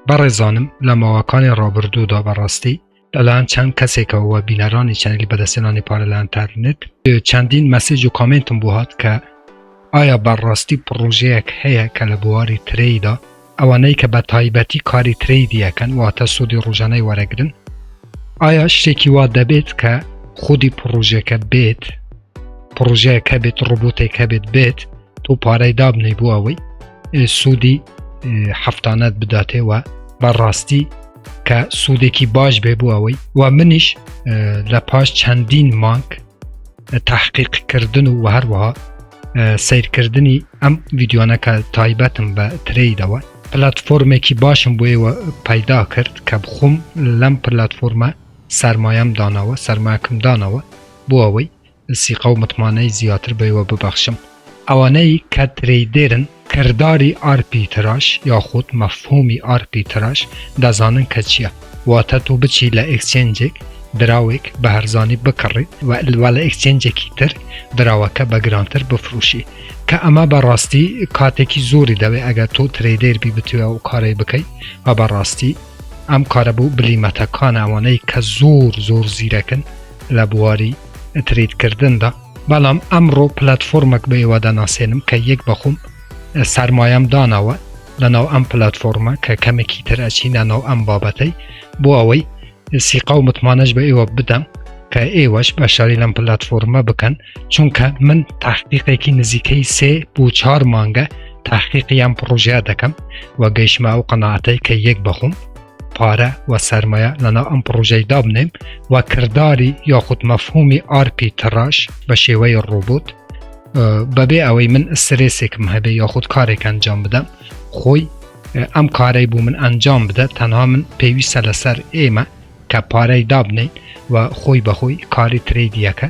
بەڕێزانم لە ماوەکانی ڕابردوودا بەڕاستی لەلایەن چەند کەسێکەوە وە بینەرانی چەنگی بەدەستێنانی پارە لە ئەتەرنێت چەندین مەسج و کامنتم بۆ هات کە ئایا بەڕاستی پڕۆژەیەک هەیە کە لە بواری ترەیدا ئەوانەی کە بە تایبەتی کاری ترەی دیەکەن واتە سوودی ڕژانەی وەرەگرن ئایا شتێکی وا دەبێت کە خودی پڕۆژەکە بێت پڕۆژەیەک هەبێت ڕۆبۆتێک هەبێت بێت تۆ پارەی دابنەی بۆ ئەوەی سوودی هەفتانەت بداتێەوە بەڕاستی کە سوودێکی باش بێ بۆ ئەوەی و منیش لە پاش چەندین مانک تحقیقکردن و هەروەها سیرکردنی ئەم ڤیددیوانەکە تایبەتم بە تریدەوە پلتفۆرمێکی باشم بۆیەوە پەیدا کرد کە بخۆم لەم پلتفۆرمە سرمایم دانەوە سرماکم دانەوە بۆ ئەوەی سیقە و متمانەی زیاتر بەیوە ببەخشم. ئەوانەی کە ترەیدێرن کرداری ئارپیتراژ یاخود مەفهومی ئارپیتراژ دەزانن کە چیە، واتە تۆ بچی لە ئێکچێنجێک دراوێک بە هەرزانی بکڕی و لە ئێکچێنجێکی تر دراوەکە بە گرانتر بفروشی کە ئەمە بە ڕاستی کاتێکی زۆری دەوێ ئەگەر تۆ ترەیدێر بی بتوێ ئەو کارەی بکەی و بە ڕاستی ئەم کارە بۆ بلیمەتەکانە ئەوانەی کە زۆر زۆر زیرەکن لە بواری تریدکردندا بەڵام ئەمڕۆ پلتفۆرمەک بە ئێوە دەناسێنم کە یەک بەخۆم سەرمایەم داناوە لەناو ئەم پلتفۆرمە کە کەمێکی تر ئەچینە ناو ئەم بابەتەی بۆ ئەوەی سیقا و متمانەش بە ئێوە بدەم کە ئێوەش بەشاری لەم پلتفۆرمە بکەن چونکە من تاحقیقێکی نزیکەی سێ بۆ چهار مانگە تاحقیقیان پڕۆژیا دەکەم و گەیشما و قەنەعاتەی کە یەک بەخۆم پارە و سرمایە لەنا ئەم پڕۆژەی دابنێم و کردداری یاخود مەفهومی ئارپی تڕاش بە شێوەی ڕۆبوت بەبێ ئەوەی من سرێسێکم هەبێ یاخود کارێک ئەنجام بدەم خۆی ئەم کارەی بوو من ئەنجام بدە تەنها من پێویستە لەسەر ئێمە کە پارەی دابنین و خۆی بەخۆی کاری ترێدیەکە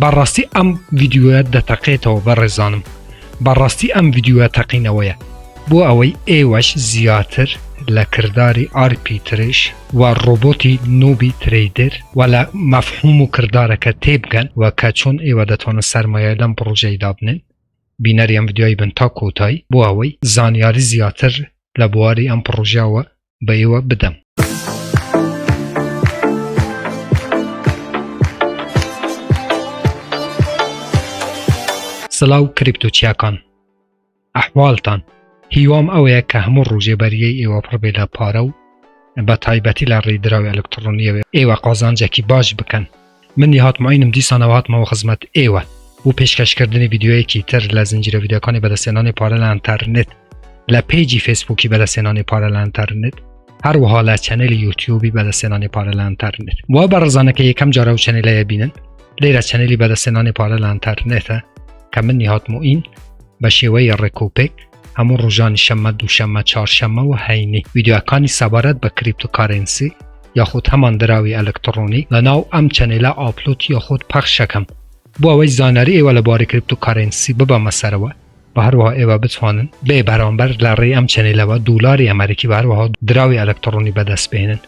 بەڕاستی ئەم ڤیدیۆیە دەتەقێتەوە بەڕێزانم بەڕاستی ئەم ڤیدیۆە تەقینەوەیە بۆ ئەوەی ئێوەش زیاتر لە کرداری ئارپی ترش و ڕۆبۆتی نۆبی تریدر و لە مەفهوم و کردارەکە تێبگەن و کە چۆن ئێوە دەتوانن سەرمایە لەم پڕۆژەی دابنێن بینەری ئەم ڤیدیۆی بن تا کۆتایی بۆ ئەوەی زانیاری زیاتر لە بواری ئەم پڕۆژەوە بە ئێوە بدەم. سلاو کریپتۆ چیاکان ئەحواڵتان هیوام ئەوەیە کە هەموو ڕوژێ بەریەی ئێوە پڕبێ لە پارە و بە تایبەتی لە ڕێدراوی ئەلکترۆنیەوە ئێوە قازانجێکی باش بکەن من نیهاد معینم دیسانەوە هاتمەوە خزمەت ئێوە بۆ پێشکەش کردنی ڤیدیۆیەکی تر لە زنجیرە ڤیدیۆکانی بەدەستێنانی پارە لە ئەنتەرنێت لە پێجی فەیسبووکی بەدەستێنانی پارە لە ئەنتەرنێت هەروەها لە چەنێلی یوتیوبی بەدەستێنانی پارە لە ئەنتەرنێت وا بە ڕزانەکە یەکەم جارە و چەنێلەیە بینن لێرە چەنێلی بەدەستێنانی پارە لە ئەنتەرنێتە کە من نیهات معین بە شێوەی ڕێکوپێک هەموو ڕۆژانی شەممە دووشەممە چارشەممە و هەینی ویددیوەکانی سەبارەت بە کریپتۆکارنسی یاخود هەمان دراوی ئەلکتڕۆنی لە ناو ئەم چەنێلە ئاپلۆت یاخود پەخشەکەم بۆ ئەوەی زانیاری ئێوە لە بارەی کریپتۆکارنسی ببەمە سەرەوە و هەروەها ئێوە بتوانن بێ بەرامبەر لە ڕێی ئەم چەنێلەوە دولاری ئەمریکی و هەروەها دراوی ئەلکتڕۆنی بەدەست بهێنن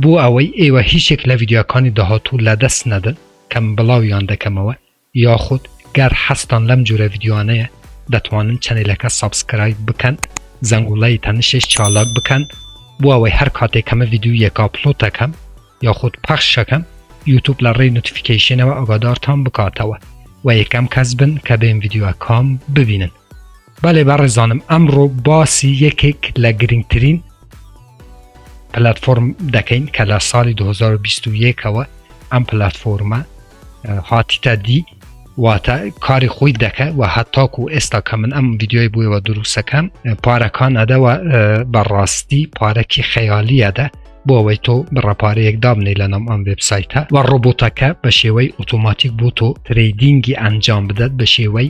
بۆ ئەوەی ئێوە هیچێک لە ویددیوەکانی داهاتوو لە دەست نەدەن کەم بڵاویان دەکەمەوە یاخود گەر حەزتان لەم جورە ڤیدیۆانەیە دەتوانن چەنێلەکە سەبسکرایب بکەن زەنگوڵەی تەنشش چالاک بکەن بۆ ئەوەی هەر کاتێ کەمە ڤیدیۆیەک ئاپلۆتەکەم یاخود پەخشەکەم یوتوب لە ڕێی نوتفیکەیشنەوە ئەگادارتان بکاتەوە وە یەکەم کەس بن کە بێم ڤیدیۆکام ببینن. بەێ بەڕێزانم ئەمڕۆ باسی یەکێک لە گرنگترین پلتفۆرم دەکەین کە لە ساڵی 2021ەوە ئەم پلتفۆرمە هاتیتە دی واتە کاری خۆی دەکە و هەتاک و ئێستا کە من ئەم یددیۆی بووەوە دروستەکەم پارەکان ئەدەوە بەڕاستی پارەکی خەیالیەدە بۆ ئەوەی تۆ بڕەپارەیەک دابنی لە نام ئەم وبسایتە و ڕۆبۆتەکە بە شێوەی ئۆتۆماتیک بۆ تۆ تریدینگی ئەنجام بدات بە شێوەی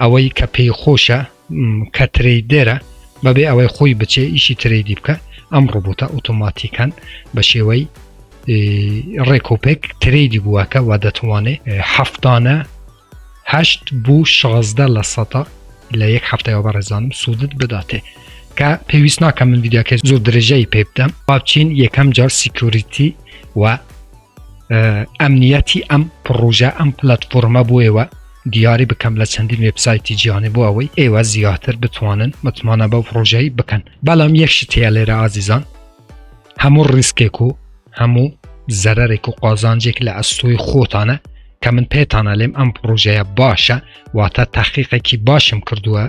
ئەوەی کە پێی خۆشە کە ترەیدێرە بەبێ ئەوەی خۆی بچێ ئیشی ترەیدی بکە ئەم ڕوبوتە ئۆتۆماتیکان بە شێوەی ڕێکۆپێک ترەیدی بووەکە و دەتوانێ هەفتانە هەشت بوو شازدە لە سەتا لە یەک هەفتەوە بەڕێزانم سوودت بداتێ کە پێویست ناکە من ویددیوکە زۆر درێژەی پێ بدەم باچین یەکەم جار سیکوریتی و ئەمنیەتی ئەم پڕۆژە ئەم پلتفۆرمە بۆ ئێوە دیاری بکەم لە چەندین وبسایتی جیانێ بۆ ئەوەی ئێوە زیاتر بتوانن متمانە بەو پرۆژەی بکەن بەڵام یەکشی تێ لێرە ئازیزان هەموو ڕیسکێک و هەموو زەرێک و قازانجێک لە ئەستۆی خۆتانە کە من پێتانە لێم ئەم پرۆژەیە باشە واتە تاقیقێکی باشم کردووە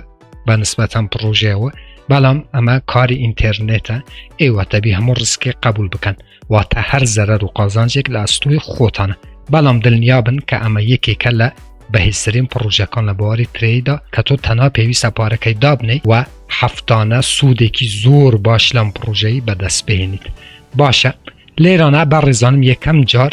بە نسبەتەن پڕۆژەوە بەڵام ئەمە کاری ئینتەرنێتە ئێوە تەبی هەموو ڕسکێ قبول بکەن واتە هەر زەرەر و قازانجێک لە ئەستوی خۆتانە بەڵام دڵنیا بن کە ئەمە یەکێکە لە بەهیزترین پڕۆژەکان لە بواری ترێدا کە تۆ تەنها پێویستە پارەکەی دابنەی و هەفتانە سوودێکی زۆر باش لەم پڕۆژەی بەدەست بهێنیت باشە لێرانە بە ڕێزانم یەکەم جار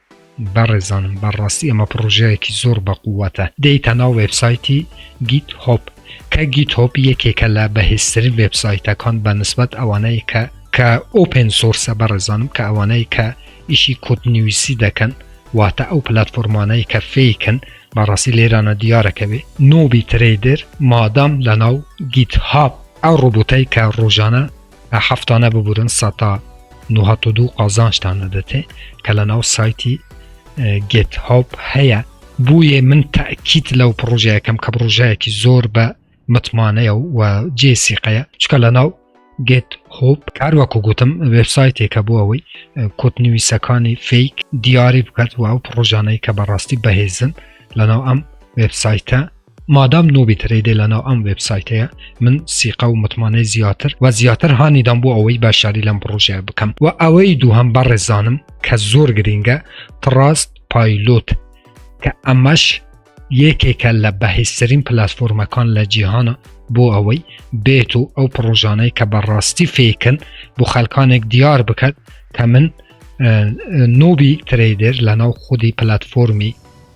بەڕێزانم بەڕاستی ئەمە پڕۆژەیەکی زۆر بەقوەتە دێیتە ناو وێبسایتی گیت هۆپ کە گیت هۆپ یەکێکە لە بەهێزترین وێبسایتەکان بە نسبەت ئەوانەیە کە کە ئۆپێن سۆرسە بەڕێزانم کە ئەوانەیە کە ئیشی کۆتنویسی دەکەن واتە ئەو پلتفۆرمانەی کە فیکن بەڕاستی لێرانە دیارەکەوێ نۆبی ترێدر مادام لە ناو گیت هاپ ئەو ڕۆبوتەی کە ڕۆژانە هەفتانە ببورن سەتا نوهەت و دوو قازانشتان دەدەێ کە لە ناو سایتی گێت هاپ هەیە بوویە من تاکیت لەو پرۆژەکەم کە پرۆژەیەکی زۆر بە متمانەیە و جێ سیقەیە چکە لە ناو گێت هۆپ کار وەکو گوتم وبسایتێکە بۆ ئەوەی کۆتنویسەکانی فیک دیاری بکات و ئەو پرۆژانەی کە بەڕاستی بەهێزن لە ناو ئەم وبسایتە مادام نوبی ترەیدێ لەناو ئەم وێب سایتەیە من سیقە و متمانەی زیاتر و زیاتر هانیدام بۆ ئەوەی باشداری لەم پڕۆژەیە بکەم و ئەوەی دووهم بەڕێزانم کە زۆر گرینگە تڕاست پایلوت کە ئەمەش یەکێکە لە بەهێزترین پلتفۆرمەکان لە جیهانە بۆ ئەوەی بێت و ئەو پڕۆژانەی کە بەڕاستی فێکن بۆ خەلکانێک دیار بکات کە من نوبی ترەیدێر لە ناو خودی پلتفۆرمی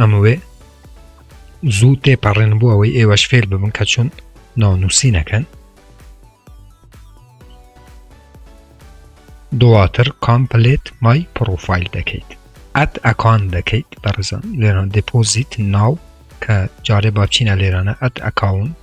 ئەمەوێ زوو تێپەڕێن بۆ ئەوەی ئێوەش فێر ببن کە چون ناونووسینەکەن دواتر کامپلێت مای پرۆفایل دەکەیت ئەت ئەکان دەکەیت بەڕزم لێران دپۆزیت ناو کە جارێ باچینە لێرانە ئەت ئەکاونت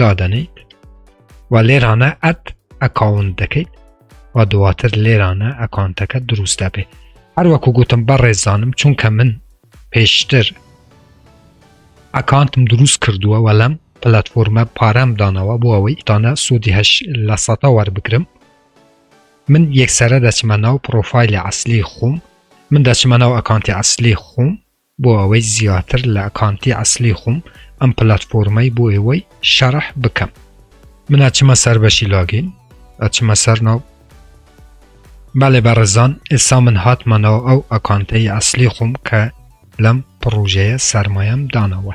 دادەنیت و لێرانە ئەت ئەکاونت دەکەیت و دواتر لێرانە ئەکانتەکە دروست دەبێت هەروەکو گوتم بە ڕێزانم چونکە من پێشتر ئەکانتم دروست کردووە وە لەم پلتفۆرمە پارەم دانەوە بۆ ئەوەی تانە سوودی هەش لە سەتا وەربگرم من یەکسرە دەچمە ناو پرۆفایلی ئەسلی خۆم من دەچمە ناو ئەکانتی ئەسلی خۆم بۆ ئەوەی زیاتر لە ئەکانتی ئەسلی خوم ئەم پلاتفۆرمەی بۆ ئێوەی شەرح بکەم من ئەچمە سەر بەشی لاگین ئەچمە سەر ناو بەێ بەڕزان ئێسا من هاتمەنەوە ئەو ئەکانتەی ئەسلی خوم کە لەم پڕوژەیە سەرمایەم دانەوە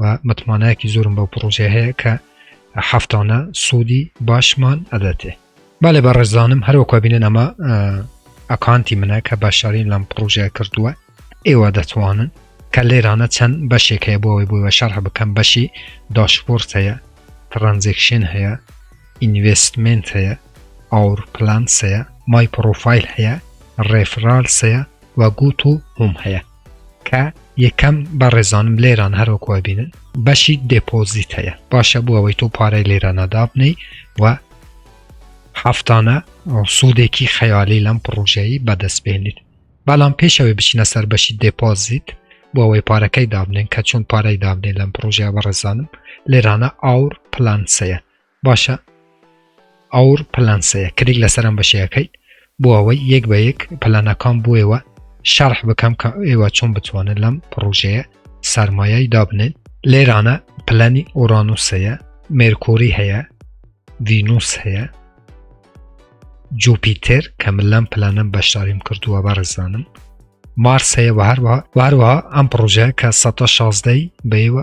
و متمانەیەکی زۆرم بەو پڕۆژەیە هەیە کە هەفتانە سوودی باشمان ئەدەتێ بالێ بە ڕێزدانم هەروەکو بینن ئەمە ئەکانتی منە کە بەشدارین لەم پرۆژە کردووە ئێوە دەتوانن کە لێرانە چەند بەشێک هەیە بۆ ئەوەی بۆیوە شەرح بکەم بەشی داشپۆرت هەیە ترانزێکشن هەیە ئینڤستمنت هەیە ئاور پلانس هەیە مای پرۆفایل هەیە ڕێفرالس هەیە و گوت و هوم هەیە کە یەکەم بەڕێزانم لێران هەروەکو ئەبینن بەشی دێپۆزیت هەیە باشە بۆ ئەوەی تۆ پارەی لێرانە دابنەی و هەفتانە سوودێکی خەیالی لەم پڕۆژەیی بەدەست بێنیت بەڵام پێشەوەی بچینە سەر بەشی دێپۆزیت بۆ ئەوەی پارەکەی دابنێن کە چۆن پارەی دابنێن لەم پڕۆژە بەڕێزانم لێرانە ئاور پلانسەیە باشە ئەوڕ پلان سەیە کلیک لەسەر ئەم بەشەیە کەیت بۆ ئەوەی یەک بە یەک پلانەکان بۆ ئێوە شەرح بکەم کە ئێوە چۆن بتوانن لەم پڕۆژەیە سەرمایای دابنێن لێرانە پلانی ئۆرانوسەیە مێرکۆری هەیە ڤینوس هەیە جوپیتر کە من لەم پلانم بەشداریم کردووە بەڕزانم مارس هەیە بە هەروە هەروەها ئەم پرۆژەیە کە 16ی بەیوە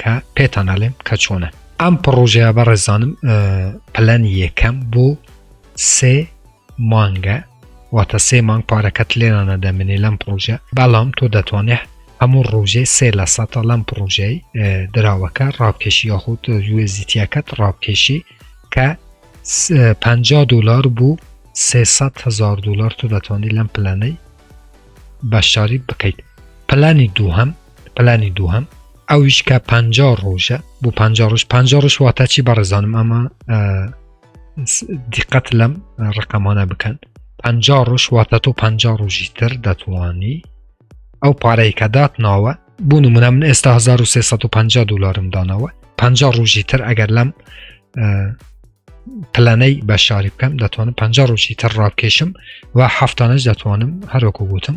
کە پێتان ئەلێم کە چۆنە ئەم پڕۆژەیە بە ڕێزانم پلەن یەکەم بۆ سێ مانگە واتە سێ مانگ پارەکەت لێرانە دەمێنێ لەم پرۆژە بەڵام تۆ دەتوانێت هەموو ڕۆژێ سێ لە سەتا لەم پرۆژەی دراوەکە ڕاوکێشی یاخود یوزیتیەکەت ڕاوکێشی کە 50 دلار بوو 300 هزار دلار تۆ دەتوانانی لەم پلانەی بەشداری بکەیت پلانی دووهم پلانی دووهەم ئەویش کە پ ڕۆژە بۆ پ ڕژ پ ڕژ واتە چی بەڕێزانم ئەمە دیقەت لەم ڕقەمانە بکەن پ ڕۆژ واتە تۆ پ ڕۆژی تر دەتوانی ئەو پارەی کە دات ناوە بۆ نمونە من ئێستا 1350 دلارم دانەوە پ ڕۆژی تر ئەگەر لەم پلانەی بە شاری بکەم دەتوانم پ ڕۆژی تر ڕاکێشم و هەفتانش دەتوانم هەروەکو گوتم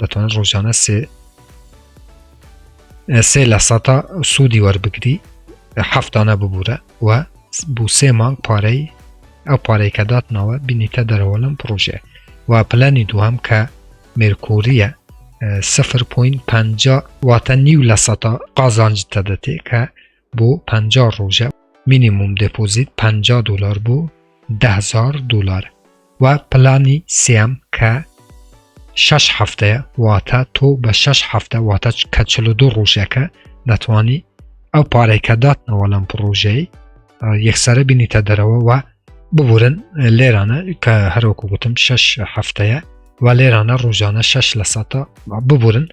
دەتوان ڕۆژانە سێ سێ لە سەتا سوودی وەربگری هەفتانە ببوورە و بو سێ مانگ پارەی ئەو پارەی کە داتنەوە بینیتە دەرەوە لەم پرۆژێ و پلانی دووهم کە مێرکوریە 0.5 واتە نیو لە سەتا قازانج تەدەتێ کە بۆ پەنجا ڕۆژە مینیموم دەپۆزیت پەنجا دۆلار بۆ دە هەزار دۆلار و پلانی سێەم کە شەش هەفتەیە واتە تۆ بە شەش هەفتە واتە کە چل و دوو ڕۆژەکە دەتوانی ئەو پارێکە داتنەوە لەم پرۆژەی یەکسرە بینیتە دەرەوە و ببورن لێرانە کە هەرۆکو گوتم شش هەفتەیە و لێرانە ڕۆژانە شش لە سەتا ببورن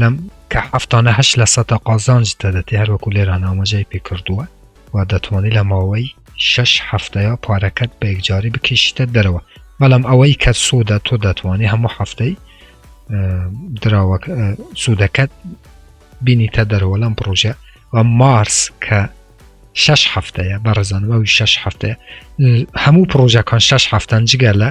لەم کە هەفتانە هەش لە سەدا قازانج دەدەێ هەروەکو لێران ئاماژەی پێ کردووە و دەتوانانی لە ماوەی شش هەفتەیە پارەکەت بە یەکجاری بکەشتە دەرەوە بەڵام ئەوەی کە سوودە تۆ دەتوانانی هەموو هەفتەی دراوە سوودەکەت بینیتە دەرەوە لەم پرۆژە و مارس کە شش هەفتەیە بە ڕزانەوەی شش هەفتەیە هەموو پرۆژەکان شش هەفتەن جگە لە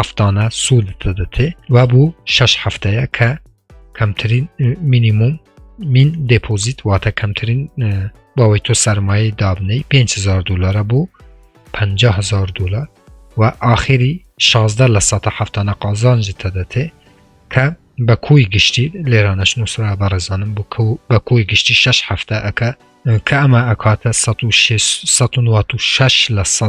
هەفتانە سوودت دەدەتێ و بۆ شش هەفتەیە کە کەمترین مینیموم مین دەپۆزیت واتە کەمترین باوەی تۆ سەرمایە دابنەی 500 دلارە بۆ 500 دلار و ئاخری 16 لە سە هەفتانە قازانجت دەدەتێ کە بە کۆی گشتی لێرانەش نووسرا بە ڕێزانم بوو کە بە کۆی گشتی 6 هەفتە ئەکە کە ئەمە ئەکاتە 16 لە سە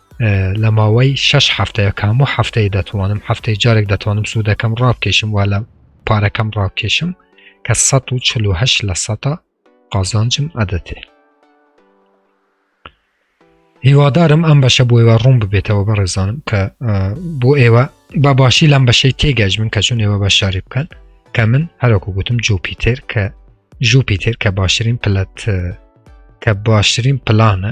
لە ماوەی شش هەفتەیە کام و هەفتەی دەتوانم هەفتەی جارێک دەتوانم سوودەکەم ڕابکێشم وا لە پارەکەم ڕابکێشم کە 1940 لە سەتا قازانجم ئەدەتێ هیوادارم ئەم بەشە بۆ ئێوە ڕوون ببێتەوە بە ڕێزانم کە بۆ ئێوە با باشی لەم بەشەی تێگەش من کە چون ئێوە بە شاری بکەن کە من هەرۆکو گوتم جوپیتر کە ژوپیتر کە باشترین پلەت کە باشترین پلانە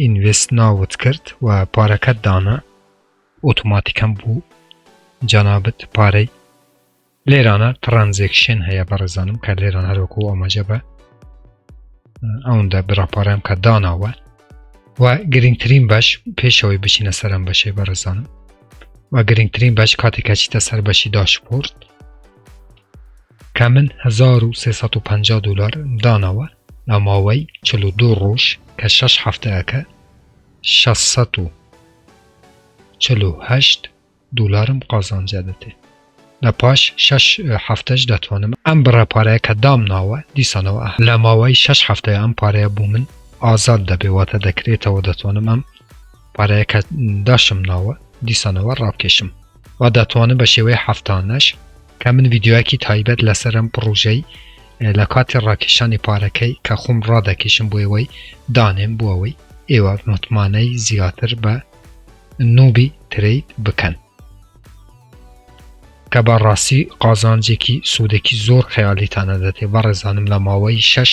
ئینڤێست ناوت کرد و پارەکەت دانا ئۆتۆماتیکەن بۆ جەنابت پارەی لێرانە تڕەنزێکشن هەیە بەڕێزانم کە لێران هەروەکو ئاماژە بە ئەوەندە براپارەم کە داناوە و گرنگترین بەش پێشەوەی بچینە سەرم بەشێ بەڕێزانم و گرنگترین بەش کاتێکە چیتە سەر بەشی داشپۆرت کە من هەزار و سێ سەد و پەنجا دۆلار دانەوە لە ماوەی چل و دوو ڕۆژ کە شەش هەفتە ئەکا شەش سەد و چل و هەشت دۆلارم قازانج ئەبێتێ لە پاش شەش هەفتەش دەتوانم ئەم بڕە پارەیە کە دامناوە دیسانەوە ئەهەم لە ماوەی شەش هەفتەیە ئەم پارەیە بۆ من ئازاد دەبێ واتە دەکرێتەوە دەتوانم ئەم پارەیەکە داشم ناوە دیسانەوە ڕابکێشم و دەتوانم بە شێوەی هەفتانەش کە من ڤیددیوەکی تایبەت لەسەرم پڕۆژەی لە کاتی ڕاکێشانی پارەکەی کە خۆم ڕادەکێشم بۆ ئێوەی دانێم بۆ ئەوەی ئێوە متمانەی زیاتر بە نوبی ترید بکەن کە بە ڕاستی قازانجێکی سوودێکی زۆر خەیالیتانە دەتێ بە ڕێزانم لە ماوەی شەش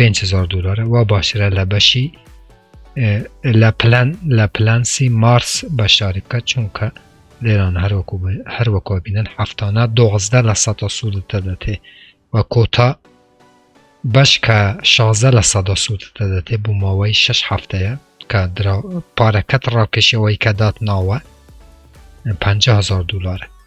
5هزار دلارە وا باشترە لە بەشی لە پلان لە پلانسی مارس بەشداری بکە چونکە لێران هەروەکو هەروەکو بینن هەفتانە دۆزدە لە سەدا سوودت دەدەێ و کۆتا بەش کە شازە لە سەدا سوودت دەدەێ بوو ماوەی شش هەفتەیە کە پارەکەت ڕاکێشەوەی کە دات ناوە 5هزار دلارە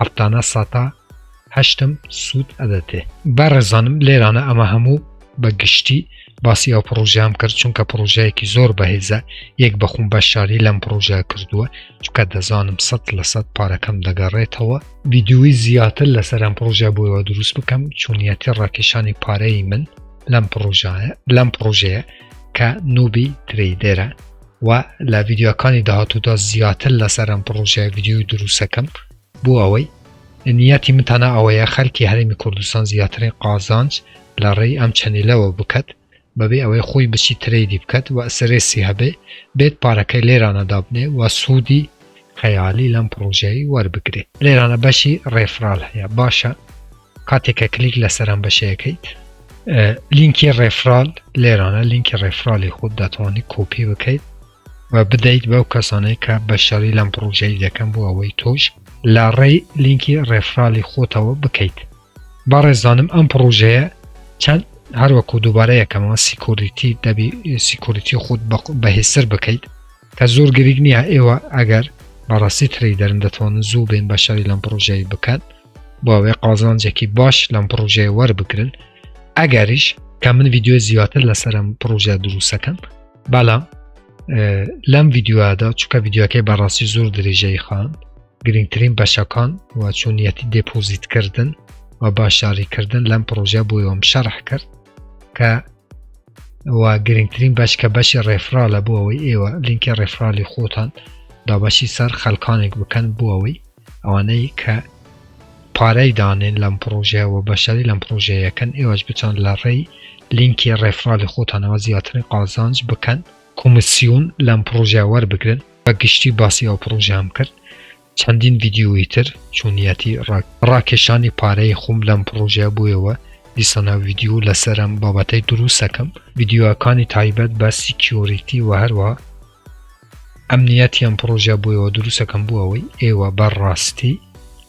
هەفتانە ساتا هەشتم سوود ئەدەتێ بەڕێزانم لێرانە ئەمە هەموو بە گشتی باسی ئەو پرۆژیان کرد چونکە پرۆژەیەکی زۆر بەهێزە یەک بەخون بە شاری لەم پرۆژە کردووە چکە دەزانم سە لە سەد پارەکەم دەگەڕێتەوە ویددیوی زیاتر لەسەر ئەم پرۆژە بۆیەوە دروست بکەم چونیەتی ڕاکێشانی پارەی من لەم پرۆژایە لەم پرۆژەیە کە نوبی تریدێرە و لە ڤیدیۆکانی داهاتوودا زیاتر لەسەر ئەم پڕۆژەیە ڤیدیۆی دروستەکەم بۆ ئەوەی نیەتی من تەنە ئەوەیە خەرکی هەرمی کوردستان زیاترین قازانج لە ڕێی ئەم چەنیلەوە بکەت بەبێ ئەوەی خۆی بچی ترەیدی بکەت و ئەسرێسی هەبێ بێت پارەکەی لێرانە دابنێ و سوودی خەیالی لەم پڕۆژەی وەربگرێ لێرانە بەشی ڕێفرال هەیە باشە کاتێک کە کلیک لەسەر ئەم بەشەیەکەیت لینکی ڕێفرال لێرانە لینکی ڕێفرالی خود دەتوانانی کۆپی بکەیت و بدەیت بەو کەسانەی کە بە شەڕی لەم پرۆژەی دەکەم بۆ ئەوەی تۆش لە ڕێی لینکی ڕێفرالی خۆتەوە بکەیت بەڕێزانم ئەم پرۆژەیە چەند هەروەکو دووبارە یەکەمەوە سیکۆریتی دەبی سیکۆریتی خود بەهێسر بکەیت هەر زۆر گریک نییە ئێوە ئەگەر بەڕاستی تری دەرن دەتوانن زوو بێن بەشداری لەم پڕۆژەی بکەن بۆوێ قازانجێکی باش لەم پڕۆژەیە وەربگرن ئەگەریش کە من یددیو زیاتر لەسەرم پڕۆژە دروستەکەم بەڵام لەم یددیووادا چکە یددیوەکەی بەڕاستی زۆر درێژەی خان گرنگترین بەشەکان و چۆنیەتی دێپۆزیتکردن و باشاریکردن لەم پڕۆژە بۆیەوەم شەرح کرد کە و گرنگترین بەش کە بەشی ڕێفرالە بۆ ئەوەی ئێوە لینکە ڕێفرالی خۆتان دابەشی سەر خەلکانێک بکەن بۆ ئەوەی ئەوانەی کە پارەی دانێن لەم پرۆژەیە و بەشداری لەم پرۆژەیەکەن ئێوەش بچۆن لە ڕێی لینکی ڕێفرالی خۆتانەوە زیاترین قازانج بکەن کۆمسیون لەم پرۆژە وەربگرن بە گشتی باسی ئەو پرۆژیان کرد چەندین ڤیدیۆی تر چۆنیەتی ڕاکێشانی پارەی خۆم لەم پڕۆژەیە بۆیەوە دیسانە ڤیدیۆ لەسەرم بابەتەی دروستەکەم ڤیدیۆەکانی تایبەت بە سیکیۆریتی و هەروە ئەمنیەتی ئەم پڕۆژە بۆیەوە دروستەکەم بوو ئەوەی ئێوە بەڕاستی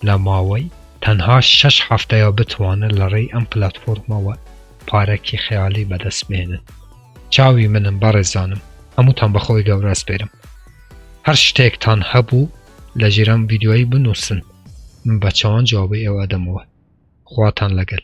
لە ماوەی تەنها شش هەفتەیە بتوانن لە ڕێی ئەم پلتفۆرمەوە پارەکی خەیالی بەدەست بێنن چاوی منم بەڕێزانم هەمووتان بەخۆی گەورە ئەسپێرم هەر شتێکتان هەبوو لە ژیر ئەم ڤیدیۆیەی بنووسن من بە چاوان جوابی ئێوە ئەدەمەوە خواتان لەگەل.